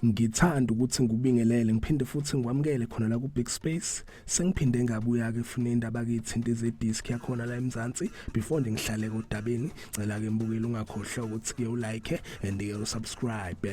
ngithanda ukuthi ngikubingelele ngiphinde futhi ngikwamukele khona la ku Big Space sengiphinde ngabuya ke funa indaba kithi into ze disc yakhona la eMzansi before ngihlale kodabeni cela ke mbukeli ungakhohlwa ukuthi ke ulike and ke usubscribe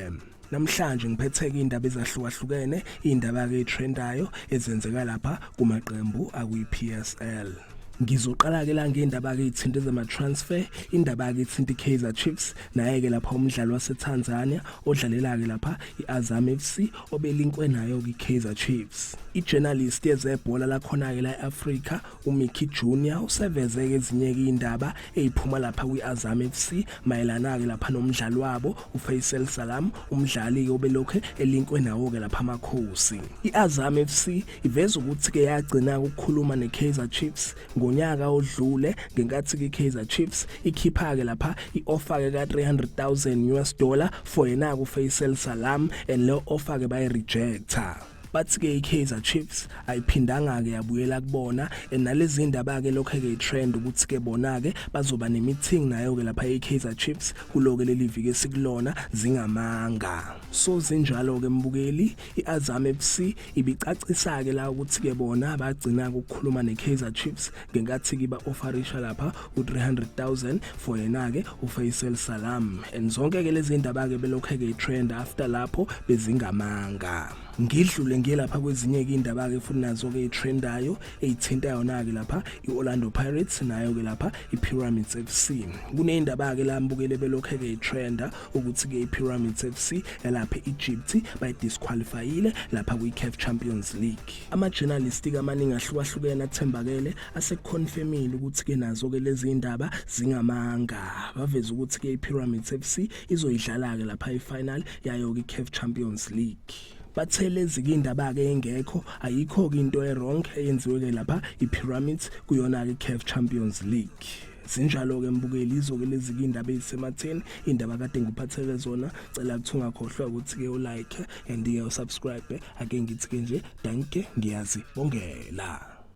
Namhlanje ngiphetheke indaba ezahlukahlukene, indaba ke trendayo ezenzeka lapha kumaqembu akwiPSL. Ngizoqala ke la ngendaba ke ithinta zama transfer, indaba ke ithinta iKaizer Chiefs naye ke lapha umdlalo waseTanzania odlalela ke lapha iAzam FC obelinkwe nayo kwiKaizer Chiefs. IJournalist yezebhola lakhona ke la eAfrica uMickey Junior useveze ezinye izindaba eziphuma lapha kwiAzam FC mayelana ke lapha nomdlali wabo uFaisal Salam umdlali ke obelokhe elinkwe nawo ke lapha amakhosi iAzam FC iveza ukuthi ke yagcina ukukhuluma neKaizer Chiefs ngonyaka odlule ngenkathi ke Kaizer Chiefs ikhipha ke lapha ioffer ke ka 300,000 US dollar for yena ku Faisal Salam and le offer ke bayi rejecta bathi ke iKaizer Chiefs ayiphindanga ke yabuyela kubona nalezi indaba ke lokho ke trend ukuthi ke bona ke bazoba nemeeting nayo ke lapha eKaizer Chiefs kuloke leli viki esikulona zingamanga so zinjalo ke mbukeli iAzam FC ibicacisa ke la ukuthi ke bona bagcina ukukhuluma neKaizer Chiefs ngenkathi kiba ofarisha lapha u300000 for yena ke uFaisal Salam and zonke ke lezi ndaba ke belokhe ke trend after lapho bezingamanga ngidlule ngelapha kwezinye ke indaba ke futhi nazo ke itrendayo eyithinta yona ke lapha iOrlando Pirates nayo ke lapha iPyramids FC kuneyindaba ke la mbukele belokhe ke itrenda ukuthi ke iPyramids FC elapha eEgypt bayidisqualifyile lapha kwiCAF Champions League Ama-journalistic amaningi ahlukahlukene athembakele aseconfirmile ukuthi-ke nazo-ke lezi iy'ndaba zingamanga baveze ukuthi-ke i-pyramids f c izoyidlala-ke lapha i-final yayo-ke i-caf champions league bathe lezi kindaba-ke engekho ayikho-ke into e-wrong eyenziwe-ke lapha i-pyramids kuyona-ke i-caf champions league Sinjalo-ke mbukeli izoke lezike iy'ndaba ey'sematheni iy'ndaba kade ngiphathele zona cela kuthi ungakhohlwa ukuthi-ke ulike and-ke usubscribe ake ngithi-ke nje danke ngiyazi bongela